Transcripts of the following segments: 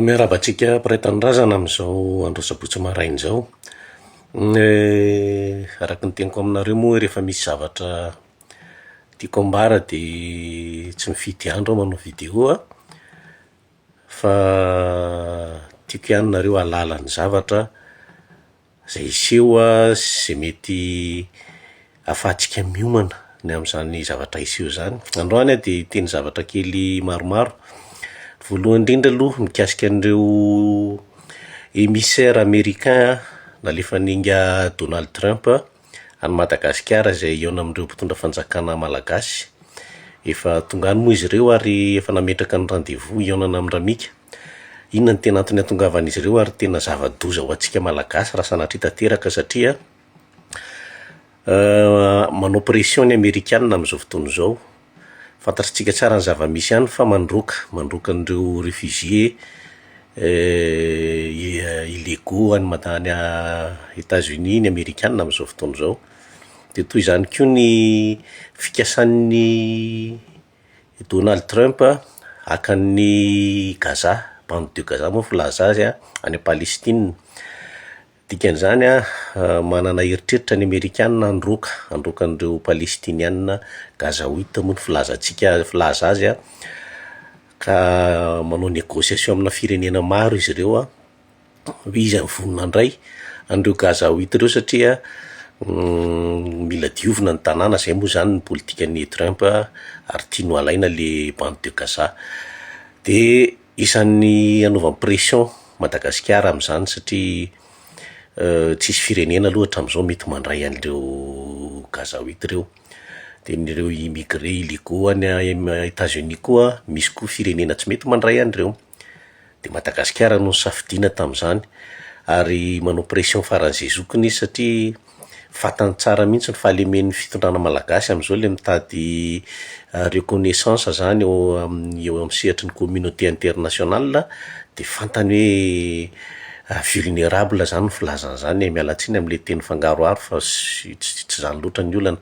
Miarahaba antsika mpiray tanindrazana amin'izao andro sabotsy maraina izao. Ny araka ny teniko aminareo moa rehefa misy zavatra tiako ambara dia tsy mifidy andro aho manao video a, fa tiako ihany nareo hahalala ny zavatra. Izay hiseho sy izay mety hahafahantsika miomana ny amin'izany zavatra hiseho izany. Androany aho dia hiteny zavatra kely maromaro. Ny voalohany indrindra aloha mikasika an'ireo emissaire americain nalefan'ingahy Donald Trump. any Madagasikara izay hihaona amin'ireo mpitondra fanjakana malagasy. Efa tonga any moa izy ireo ary efa nametraka ny rendez-vous hihaonana amin'i Ramika. Inona no tena antony hahatongavan'izy ireo ary tena zava-doza ho antsika malagasy raha sanatria tanteraka satria manao pression ny amerikanina amin'izao fotoana izao Fantatritsika tsara ny zava-misy any fa mandroaka, mandroaka an'ireo réfugiés illégaux any Mada- any Etats Unis ny Amerikana amin'izao fotoana izao. Dia toy izany koa ny fikasan'ny Donald Trump haka an'i Gaza, bande de Gaza moa filaza azy, any Palestine. Dikan'izany, manana eritreritra ny Amerikana handroaka, handroaka an'ireo Palestiniana Gazaouites moa ny filazantsika, filaza azy, ka manao négociation amina firenena maro izy ireo hoe iza no vonona handray an'ireo Gazaouites ireo satria mila diovina ny tanàna, izay moa izany ny politikan'i Trump ary tiany ho alaina le bande de Gaza, de. Isan'ny anaovany pression Madagasikara amin'izany satria tsisy firenena aloha hatramin'izao mety mandray an'ireo Gazaouite ireo. De ny ireo immigré illegaux any Etats Unis koa misy koa firenena tsy mety mandray an'ireo. De Madagasikara no nosafidiana tamin'izany ary manao pression faran'izay zokiny izy satria Fantany tsara mihitsy ny fahalemen'ny fitondrana malagasy amin'izao ilay mitady reconnaissance zany eo amin'ny eo amin'ny sehatry ny communauté internationale dia fantany hoe vulnerable zany ny filazany zany e, miala tsiny amin'ilay teny fangaroharo fa tsy tsy izany loatra ny olana.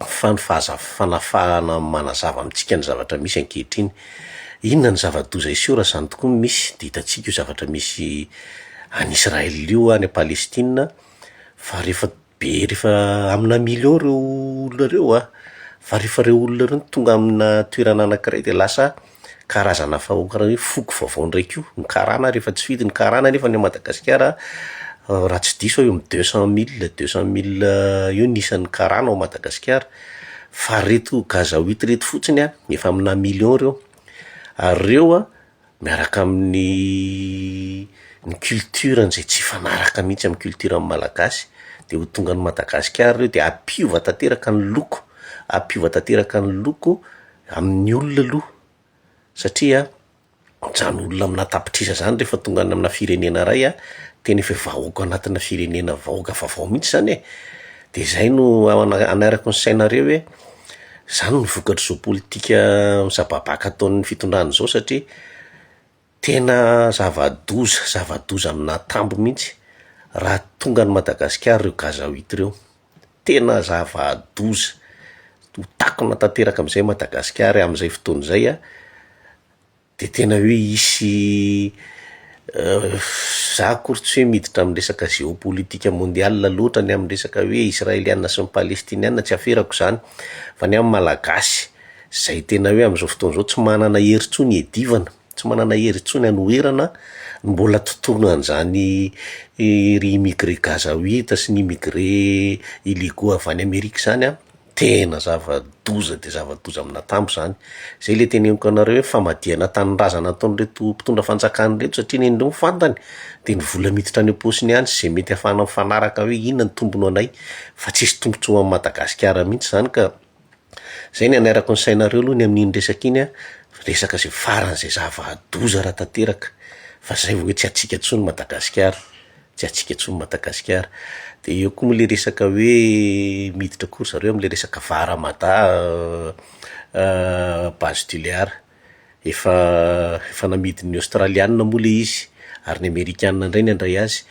fa ny fahaza- fanafahana manazava amintsika ny zavatra misy ankehitriny. Inona ny zava-doza hiseho raha izany tokoa no misy? Dia hitantsika io zavatra misy any Israël io any Palestine fa rehefa be rehefa aminà millions ireo olona ireo a, fa rehefa ireo olona ireo no tonga aminà toerana anankiray dia lasa karazana fahoaka hoe foko vaovao indray koa ny karana ary efa tsy fidy ny karana nefa any Madagasikara raha tsy diso aho eo amin'ny deux cent mille deux cent mille eo ny isan'ny karana ao Madagasikara fa ry reto gazaoit ry reto fotsiny an efa amina million ireo ary ireo an miaraka amin'ny ny culturany izay tsy hifanaraka mihintsy amin'ny culturan'ny malagasy dia ho tonga any Madagasikara ireo dia hampiova tanteraka ny loko hampiova tanteraka ny loko amin'ny olona aloha satria zany olona amina tapitrisa zany rehefa tonga any amina firenena ray a, tena efa vahoaka anatina firenena vahoaka vaovao mihintsy zany e, de zay no anarako ny sainareo hoe zany no vokatr'izao politika misababaka ataon'ny fitondrana zao satria. Tena zava-doza, zava-doza aminà tambo mihitsy raha tonga any Madagasikara ireo gazoite ireo. Tena zava-doza, ho takona tanteraka am'zay Madagasikara am'zay fotoana izay a, de tena hoe hisy za akory tsy hoe miditra am'resaka géopolitique mondial loatra ny am'resaka hoe Israeliana sy ny Palestiniana tsy aferako zany fa ny am' Malagasy. izay tena hoe amin'izao fotoana izao tsy manana hery intsony hiadivana, tsy manana hery intsony hanoherana no mbola tontolony an'izany ry immigré gazaoita sy ny immigré illegaux avy any Amerika izany an, tena zava-doza dia zava-doza amin'ny natambo izany, izay ilay teneniko anareo hoe famadihana tanindrazana ataon'ireto mpitondra fanjakana ireto satria ny an'ireo fantany dia ny vola miditra any am-paosiny ihany sy izay mety ahafahana mifanaraka hoe inona no tombony ho anay fa tsisy tombotsoa ho an'i Madagasikara mihintsy izany ka. Zay ny hanarako ny sainareo aloha ny amin'iny resaka iny an, resaka izay farany izay zava-doza raha tanteraka, fa zay vao hoe tsy hatsiaka intsony Madagasikara, tsy hatsiaka intsony Madagasikara. De eo koa moa le resaka hoe miditra koa ry zareo am'le resaka var à mada base du lear, efa efa namidin'ny Aostraliana moa le izy, ary ny Amerikana indray ny handray azy.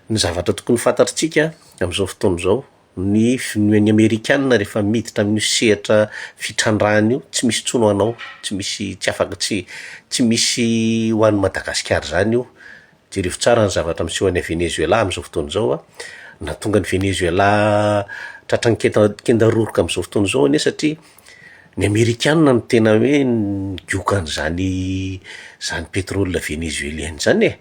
Ny zavatra tokony ho fantatritsika amin'izao fotoana izao Ny fivonon'ny amerikana rehefa miditra amin'io sehatra fitrandrahana io tsy misy intsony ho anao, tsy misy tsy afaka tsy tsy misy ho an'i Madagasikara izany io, jerevo tsara ny zavatra miseho any Venezuela amin'izao fotoana izao a, nahatonga an'i Venezuela tratran'ny kenta- kenda roroka amin'izao fotoana izao anie satria ny amerikana no tena hoe nigoka an'izany zany pétrole venezuelienne zany e.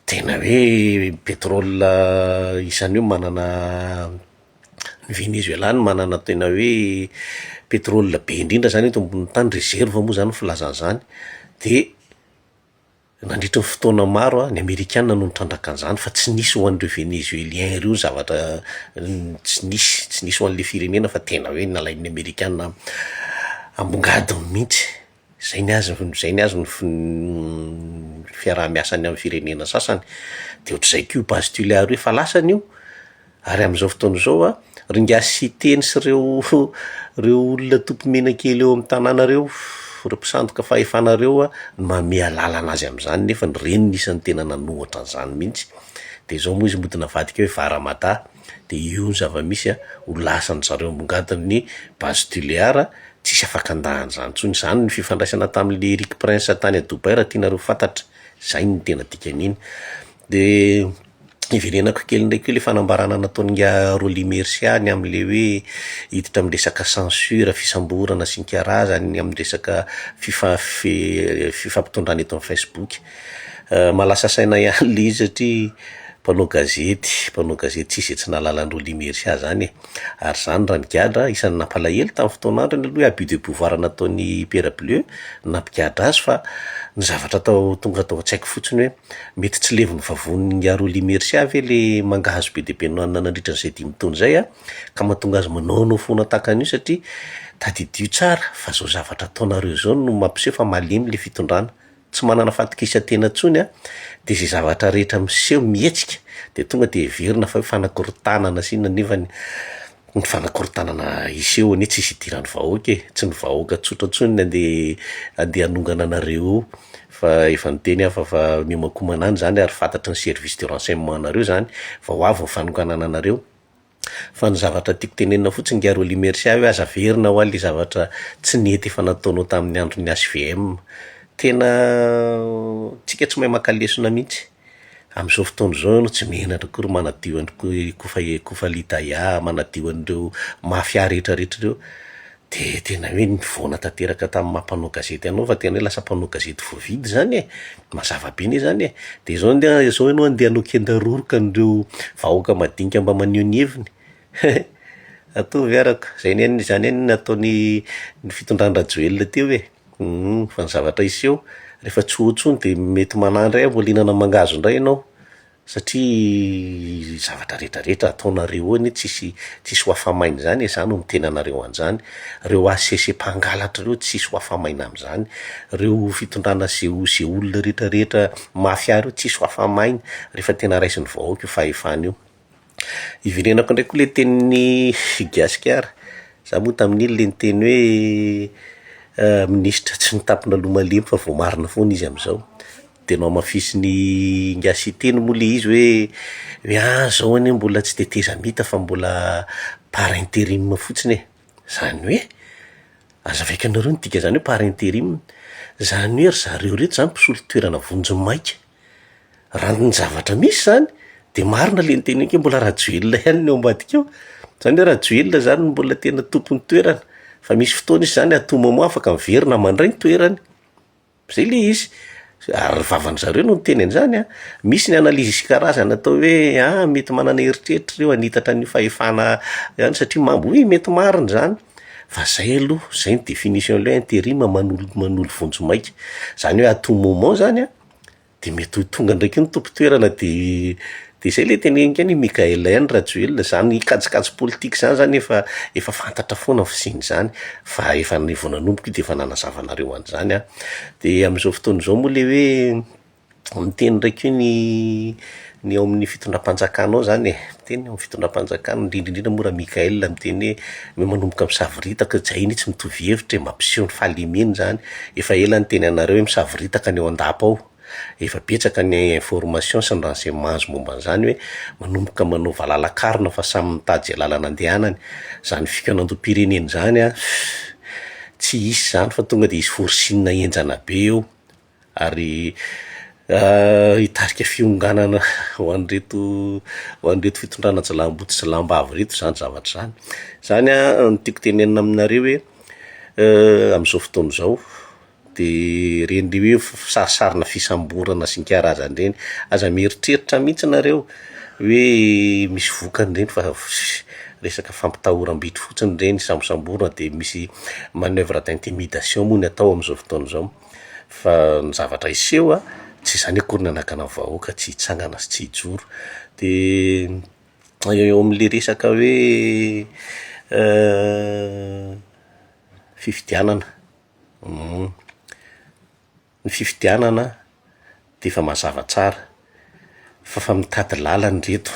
Tena hoe pétrole isan'io manana ny Venezuela no manana tena hoe pétrole be indrindra zany eto ambonin'ny tany, réserve moa zany ny filazana an'izany de nandritry ny fotoana maro a ny amerikana no nitrandraka an'izany fa tsy nisy ho an'ireo Venezuelien ireo ny zavatra tsy nisy, tsy nisy ho an'ilay firenena fa tena hoe nalain'ny amerikana ambongadiny mihitsy. Izay ny azy izay ny azy ny fiaraha-miasany amin'ny firenena sasany dia ohatr'izay koa io base tulaire io efa lasany io ary amin'izao fotoana izao a, ry ingahy Siteny sy ireo ireo olona topy menakely eo amin'ny tanàna ireo ireo mpisandoka fahefana ireo a no manome alalana azy amin'izany nefa ireny no isan'ny tena nanohitra an'izany mihintsy, dia izao moa izy mody navadika hoe Varamadaha. dia io ny zava-misy a, ho lasan-dry zareo ambongadiny ny base tulear, tsisy afaka handahana izany intsony, izany ny fifandraisana tamin'ilay Erik Prince tany à Dubaï raha tianareo fantatra, izay no tena dikan'iny, dia hiverenako kely indray koa ilay fanambarana nataon'i nga Rolly Mercia ny amin'ilay hoe hiditra amin'ny resaka censure, fisamborana sy ny karazany amin'ny resaka fifa- fe- fifampitondrana eto amin'ny facebook. Mahalasa saina ihany le izy satria mpanao gazety mpanao gazety tsisy izay tsy nahalala an'i Rolly Mercia zany e, ary zany raha nigadra isan'ny nampalahelo tamin'ny fotoana androny aloha i abus de pouvoir nataon'i Pierre Bleu no nampigadra azy fa ny zavatra tao tonga tao an-tsaiko fotsiny hoe mety tsy levon'ny vavonin'i Rolly Mercia ve le manga hazo be dia be nohanina nandritra izay dimy taona izay an, ka mahatonga azy manaonao foana tahaka an'io satria tadidio tsara fa zao zavatra ataonareo zao no mampiseho fa malemy le fitondrana. tsy manana fahatokisan-tena intsony an, dia izay zavatra rehetra miseho mihetsika dia tonga dia heverina fa hoe fanakorontanana sy inona nefany ny fanakorontanana hiseho anie tsy hisy hidiran'ny vahoaka e, tsy ny vahoaka tsotra intsony no andeha andeha hanongana anareo eo fa efa niteny aho fa fa miomankomana any izany ary fantatry ny service de renseignement nareo izany fa ho avy ny fanonganana anareo, Fa ny zavatra tiako tenenina fotsiny ngiahy Rolly Mercia hoe aza averina hoa le zavatra tsy nety efa nataonao tamin'ny andron'ny HVM. Tena tsika tsy mahay maka lesona mihitsy. Amin'izao fotoana izao ianao tsy menatra akory manadio an'i Kofa Kofa Lidahia, manadio an'ireo mafia rehetra rehetra ireo. Dia tena hoe nivoana tanteraka tamin'ny maha mpanao gazety anao fa tena hoe lasa mpanao gazety voavidy izany e! Mazava be anie izany e! Dia izao andeha izao ianao andeha hanao kendaroroka an'ireo vahoaka madinika mba maneho ny heviny? He! Ataovy araka! Izay anie ny izany anie no nataon'ny ny fitondran-dRajoelina teo e! Humm! Fa ny zavatra hiseho rehefa tsy ho eo intsony dia mety manahy indray amboalinana mangahazo indray ianao! Satria zavatra rehetra rehetra ataonareo eo anie tsisy tsisy ho afa-maina izany e, za no miteny anareo anzany, reo HCC mpangalatra reo tsisy ho afa-maina amzany, reo fitondrana ze ze olona rehetra rehetra mafia reo tsisy ho afa-maina rehefa tena raisin'ny vahoaka io fahefana io. Iverenako indray koa ilay tenin'i i Gasikara, za moa tamin'iny ilay niteny hoe minisitra tsy nitampina loha malemy fa voamarina foana izy amin'izao, dia nohamafisin'i Ingahy Siteny moa ilay izy hoe hoe ah zao anie mbola tsy tetezamita fa mbola par interim fotsiny e, zany hoe aza avaikanareo ny dika zany hoe par interim, zany hoe ry zareo reto zany mpisolo toerana vonjimaika. Raha ny zavatra misy izany dia marina ilay niteneniko hoe mbola Rajoelina ihany no eo ambadika eo. Izany hoe Rajoelina izany no mbola tena tompon'ny toerana. Fa misy fotoana izy izany à tout moment afaka miverina mandray ny toerany. Izay ilay izy. Ary ny vavan-dry zareo no niteny an'izany an! Misy ny analyse isan-karazany atao hoe an, mety manana eritreritra ireo hanitatra an'io fahefana ihany satria mamo, oui mety marina izany. Fa izay aloha, izay ny définition-n'ilay hoe interim manolo manolo vonjimaika. Izany hoe à tout moment izany an! dia mety ho tonga indray koa ny tompon-toerana dia dia izay ilay teneniko ihany i Mickaël ihany Rajoelina, izany kajikajy politika izany zany efa efa fantatra foana ny fisian'izany fa efa ny vao nanomboka io dia efa nanazava anareo an'izany aho, dia amin'izao fotoana izao moa ilay hoe miteny indray koa ny ny ao amin'ny fitondram-panjakana ao izany e. Teny amin'ny fitondram-panjakana, indrindra indrindra moa Ra-Mickaël miteny hoe mba manomboka misavoritaka, tsy hay mihintsy mitovy hevitra e, mampiseho ny fahalemeny izany, efa ela niteny anareo hoe misavoritaka ny eo an-dapa ao, efa betsaka ny informations sy ny renseignements momba an'izany hoe manomboka manao valalakarona fa samy mitady izay lalana andehanany, izany fikaonandoham-pirenena izany an, tsy hisy izany fa tonga dia hisy forcing henjana be eo. ary hitarika fionganana ho an'ireto ho an'ireto fitondrana jiolahy jiolahy am-bava ireto izany zavatra izany, izany no tiako tenenina aminareo hoe amin'izao fotoana izao de ireny hoe sarisarina fisamborana sy ny karazany ireny, aza mieritreritra mihintsy nareo hoe misy vokany ireny fa resaka fampitahoram-bito fotsiny ireny, sambosamborina de misy manoeuvre d'intimidation moa ny atao amin'izao fotoana izao. Fa ny zavatra hiseho tsy izany akory no anakana ny vahoaka tsy hitsangana sy tsy hijoro. Dia eo amin'ilay resaka hoe fifidianana, ny fifidianana. dia efa mazava tsara fa fa mitady lalana ireto,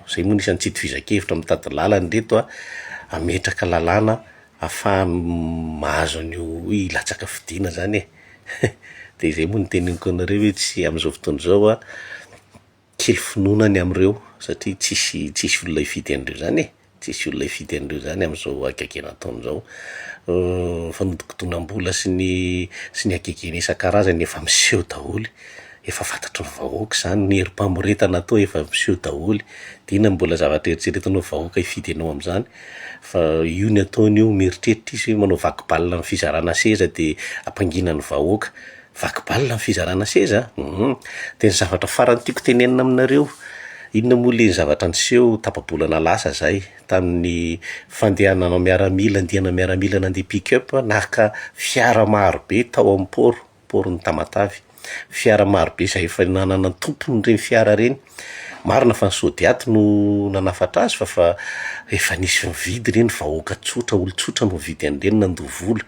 izay moa no isan'ny tsy itovizan-kevitra, mitady lalana ireto a, hametraka lalàna hahafahany mahazo an'io hilatsaka fidiana izany e, dia izay moa no iteneniko anareo hoe tsy amin'izao fotoana izao a. Kely finoana ny amin'ireo satria tsisy tsisy olona hifidy an'ireo izany e, tsisy olona hifidy an'ireo izany amin'izao hagegena ataony izao. Fanodikodinam-bola sy ny sy ny hagegena isan-karazany efa miseho daholo, efa fantatry ny vahoaka izany, ny herim-pamoretana atao efa miseho daholo, dia inona no mbola zavatra eritreretinao vahoaka hifidy anao amin'izany? Fa io ny ataony io mieritreritra izy hoe manao vaky balina amin'ny fizarana seza dia hampangina ny vahoaka. Vaky balina ny fizarana seza a! Humm. Dia ny zavatra farany tiako tenenina aminareo, inona moa le zavatra niseho tapa-bolana lasa zay, tamin'ny fandehanana nanao miaramila, andiana miaramila nandeha pick up naka fiara maro be tao amin'ny port, portn'i Tamatave. Fiara maro be izay efa nanana ny tompony ireny fiara ireny. Marina fa ny Sodiat no nanafatra azy fa fa efa nisy nividy re ny vahoaka tsotra olon-tsotra no nividy an'ireny nandoa vola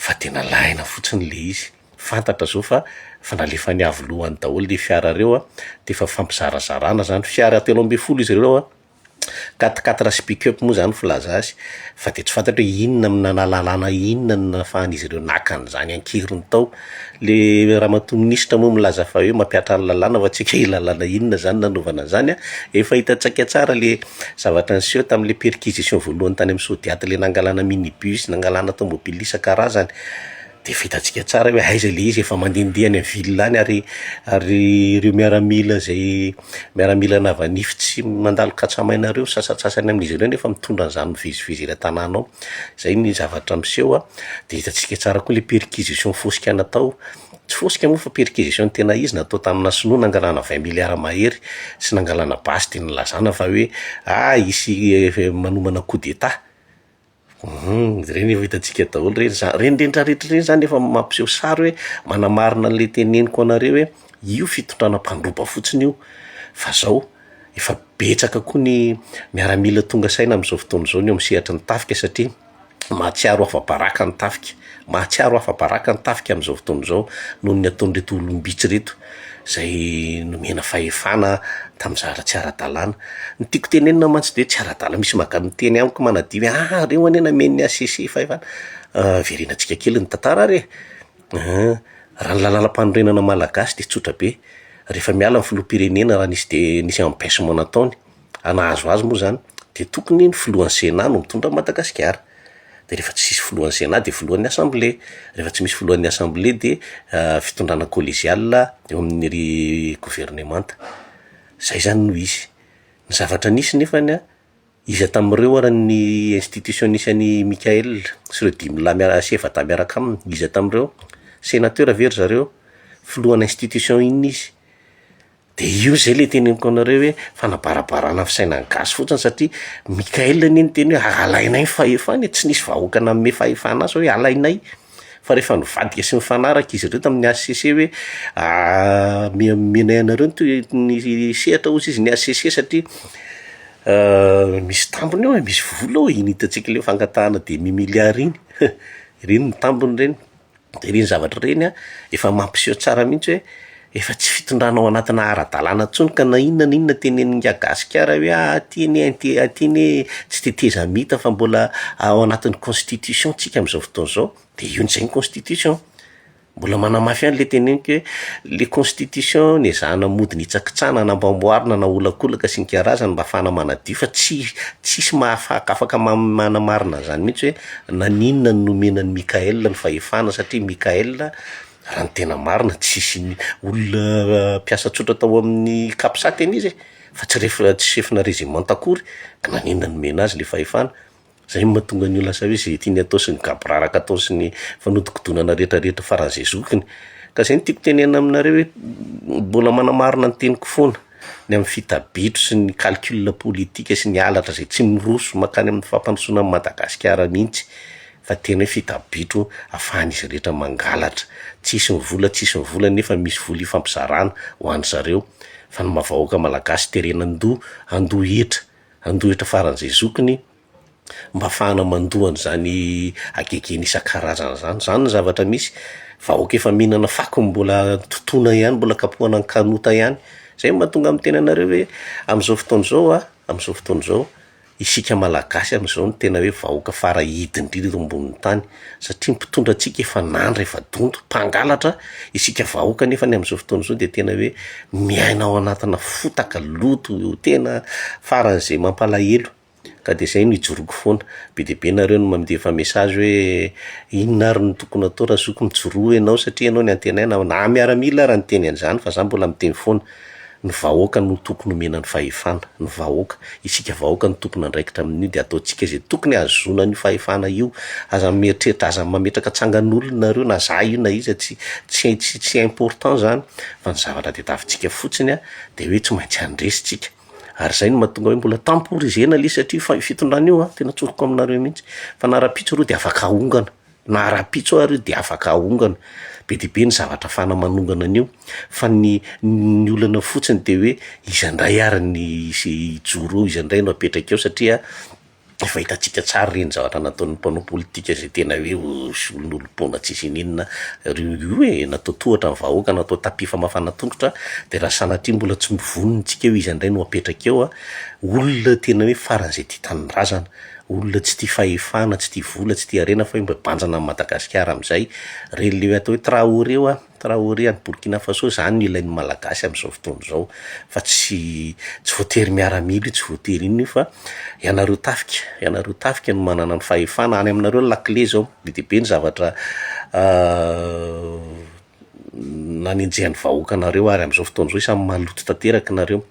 fa dia nalaina fotsiny ilay izy fantatra zao fa efa nalefan'ny avo lohany daholo le fiara reo a, dia efa fifampizarazarana zany, fiara telo ambin'ny folo izy ireo a. Quatre quatre speak up moa izany filaza azy fa dia tsy fantatro hoe inona no nanala lalàna inona no nahafahan'izy ireo naka an'izany an-keriny tao. Ilay ramatoa minisitra moa milaza fa hoe mampiatra ny lalàna fa tsy haiko hoe lalàna inona izany nanaovana an'izany an. Efa hitantsika tsara ilay zavatra niseho tamin'ilay perquisition voalohany tany amin'ny Sodiat ilay nangalana minibus, nangalana tômôbila isan-karazany. Dia vitantsika tsara hoe aiza ilay izy, efa mandehandeha any ville any ary ary ireo miaramila izay miaramila navanify tsy mandalo katsamaina ireo sasantsasany amin'izy ireo nefa mitondra an'izany mivezivezy eny an-tanàna ao, izay ny zavatra miseho an, dia hitantsika tsara koa ilay perquisition fosika natao, tsy fosika moa fa perquisition tena izy natao tamina sinoa nangalana vingt milliards mahery sy nangalana basy dia nilazana fa hoe ah hisy manomana coup d'etat. Hum, ireny efa hitantsika daholo ireny. Za- Ireny rehetra rehetra ireny izany efa mampiseho sary hoe manamarina an'ilay teneniko anareo hoe io fitondrana mpandroba fotsiny io fa izao efa betsaka koa ny miaramila tonga saina amin'izao fotoana izao ny eo amin'ny sehatry ny tafika satria mahatsiaro afa-baraka ny tafika. mahatsiaro afa-baraka ny tafika amin'izao fotoana izao noho ny ataon'ireto olom-bitsy ireto izay nomena fahefana tamin'ny zavatra tsy ara-dalàna. Ny tiako tenenina mantsy dia hoe tsy ara-dalàna, misy maka miteny amiko manadino hoe ah! reo anie namen'ny HCC fahefana, verenantsika kely ny tantara ary e! raha ny lalàmpanorenana malagasy dia tsotra be, rehefa miala ny filoham-pirenena raha nisy de- nisy empechement nataony, hanahazo azy moa zany de tokony ny filohan'ny senat no mitondra an'i Madagasikara, de rehefa tsy misy filohan'ny senat de filohan'ny assemblé, rehefa tsy misy filohan'ny assemblé de fitondrana collegiale eo amin'ny ry governemanta, zay zany no izy, ny zavatra nisy nefany an, iza tamin'ireo ary ny institution nisy an'i Mickaël sy ireo dimy lahy miara- sy efa-dahy miaraka aminy, iza tamin'ireo? Senateur ve ry zareo? Filohan'ny institution inona izy? De io zay le teneniko anareo hoe fanabarabarana fisainan'ny gasy fotsiny satria Mickael anie niteny hoe alainay ny fahefana e, tsy nisy vahoaka nanome fahefana azy hoe alainay, fa rehefa nivadika sy nifanaraka izy ireo tamin'ny HCC hoe ame- omenay anareo ny toe- ny sehatra hozy izy ny HCC satria misy tambiny ao e, misy vola ao e, iny hitantsika le fangatahana demi milliard iny, ireny ny tambiny ireny. Dia ireny zavatra ireny efa mampiseho tsara mihitsy hoe efa tsy fitondrana ao anatina ara-dalàna intsony ka na inona na inona tenenin'ny Gagasikara hoe ah aty anie inty aty anie tsy tetezamita fa mbola ao anatin'ny constitution tsika amin'izao fotoana izao dia io indray ny constitution. Mbola manamafy ihany ilay teneniko hoe le constitution nezahana mody nitsakitsahana namboamboarina naolakolaka sy nikarazana mba hahafahana manadio fa tsy tsisy mahafaka afaka manamarina an'izany mihitsy hoe Naninona no nomena an'i Mickael ny fahefana? Satria Mickael, raha ny tena marina, tsisy ny olona mpiasa tsotra tao amin'ny Capsat anie izy e! fa tsy ref- tsy chef-na rezimanta akory, ka naninona no nomena azy le fahefana? Zay no mahatonga an'io lasa hoe ze tiany atao sy ny gaboraraka ataony sy ny fanodikodonana rehetra rehetra faran'izay zokiny. Ka zay no tiako tenenana aminareo hoe mbola manamarina ny teniko foana. ny amin'ny fita-bitro sy ny calcul politika sy ny halatra izay tsy miroso mankany amin'ny fampandrosoana an'i Madagasikara mihitsy fa tena hoe fita-bitro afahan'izy rehetra mangalatra, tsy hisy ny vola tsy hisy ny vola nefa misy vola hifampizarana ho an-dry zareo fa ny maha vahoaka malagasy terena an-doha, an-doha hetra, an-doha hetra faran'izay zokiny. mba afahana mandoa an'izany hagegena isan-karazany izany. Izany ny zavatra misy. Vahoaka efa mihinana fako mbola totoina ihany, mbola kapohana ny kanota ihany. Izay no mahatonga ny miteny anareo hoe amin'izao fotoana izao an, amin'izao fotoana izao, isika Malagasy amin'izao no tena hoe vahoaka fara hidy indrindra eto ambonin'ny tany. Satria ny mpitondra antsika efa nandra, efa donto, mpangalatra. Isika vahoaka anefa amin'izao fotoana izao dia tena hoe miaina ao anatina fotaka, loto tena faran'izay mampalahelo. ka de zay no ijoroako foana, be dia be nareo no mandefa message hoe inona ary no tokony atao raha zoky mijoroa enao satria enao no antenaina, na miaramila ary niteny an'izany fa za mbola miteny foana, ny vahoaka no tokony omena ny fahefana, ny vahoaka, isika vahoaka no tokony andraikitra amin'io de ataontsika zay tokony ahazoana an'io fahefana io, aza mieritreritra, aza mametraka tsangan'olona nareo na za io na iza tsy tsy tsy tsy important zany fa ny zavatra tadiavintsika fotsiny a de hoe tsy maintsy handresy tsika. Ary izay no mahatonga hoe mbola temporisena ilay izy satria fa io fitondrana io an, tena tsoriko aminareo mihitsy fa na rahampitso areo dia afaka ahongana, na rahampitso ary io dia afaka ahongana, be dia be ny zavatra afahana manongana an'io fa ny ny olana fotsiny dia hoe iza indray ary ny hijoro eo, iza indray no apetraka eo satria. Efa hitantsika tsara ireny zavatra nataon'ny mpanao politika izay tena hoe olon'olom-ponja tsy izy n'inona ireo io e! Natao tohatra ny vahoaka, natao tapis famafana tongotra dia raha sanatria mbola tsy novononintsika eo iza indray no apetraka eo an! Olona tena hoe faran'izay tia tanindrazana, olona tsy tia fahefana, tsy tia vola, tsy tia harena fa hoe mba hibanjina an'i Madagasikara amin'izay, ireny le atao hoe Traoré ho'a. Traoré any Burkina Faso zany no ilain'ny Malagasy amin'izao fotoana izao fa tsy tsy voatery miaramila io tsy voatery inona io fa ianareo tafika ianareo tafika no manana ny fahefana any aminareo ny lakile izao be dia be ny zavatra nanenjehan'ny vahoaka anareo ary amin'izao fotoana izao isan'ny maloto tanteraka nareo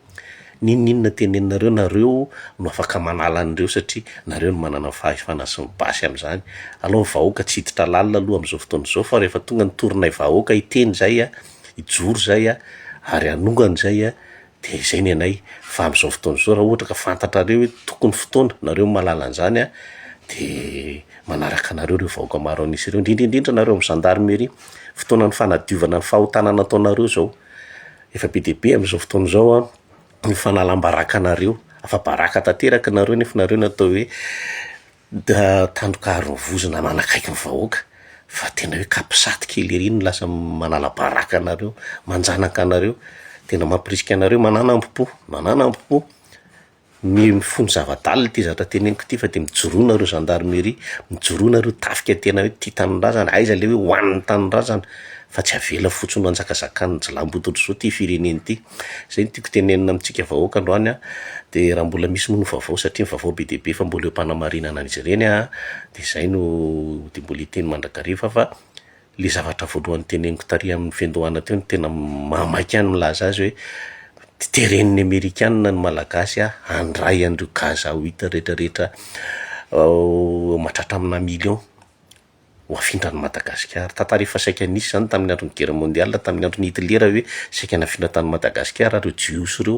N'inon'inona teneninareo nareo no afaka manala an'ireo satria nareo no manana ny fahefana sy ny basy amin'izany. Alao ny vahoaka tsy hiditra lalina aloha amin'izao fotoana izao fa rehefa tonga ny torinay vahoaka hiteny zay a, hijoro zay a, ary hanongana zay a dia izay ny anay fa amin'izao fotoana izao raha ohatra ka fantatrareo hoe tokony fotoana nareo mahalala an'izany a dia manaraka anareo ireo vahoaka maro an'isa ireo indrindra indrindra nareo amin'ny zandarmeria. Fotoanan'ny fanadiovana ny fahotana nataonareo izao. Efa be dia be amin'izao fotoana izao an, ny fanalam-baraka anareo, afa baraka tanteraka nareo nefa nareo no atao hoe ta- tandroka harovozina manakaiky ny vahoaka, fa tena hoe capsat kely ery no lasa manala-baraka anareo, manjanaka anareo, tena mampirisika anareo mananambo-po, mananambo-po. Mino ny fony zava-dalina ity zatra teneniko ity fa dia mijoroa nareo gendarmerie, mijoroa nareo tafika tena hoe tia tanindrazana, aiza le hoe ho an'ny tanindrazana fa tsy avela fotsiny ho anjakazakan'ny jilamboto-dry zao ity firenena ity, zay no tiako tenenina amintsika vahoaka androany an, dia raha mbola misy moa ny vaovao satria ny vaovao be dia be fa mbola eo am-panamarinana an'izy ireny an, dia zay no dia mbola hiteny mandrakariva fa. le zavatra voalohany teneniko tary amin'ny fiandohana teo no tena mahamaika ahy ny milaza azy hoe teren'ny amerikanina ny malagasy ah handray an'ireo gaz à huit rehetra rehetra mahatratra amina millions ho afindra an'i Madagasikara, tantara efa saika nisy izany tamin'ny andron'ny guerre mondiale tamin'ny andron'i Hitlera hoe saika nafindra tany Madagasikara ireo jiosy ireo.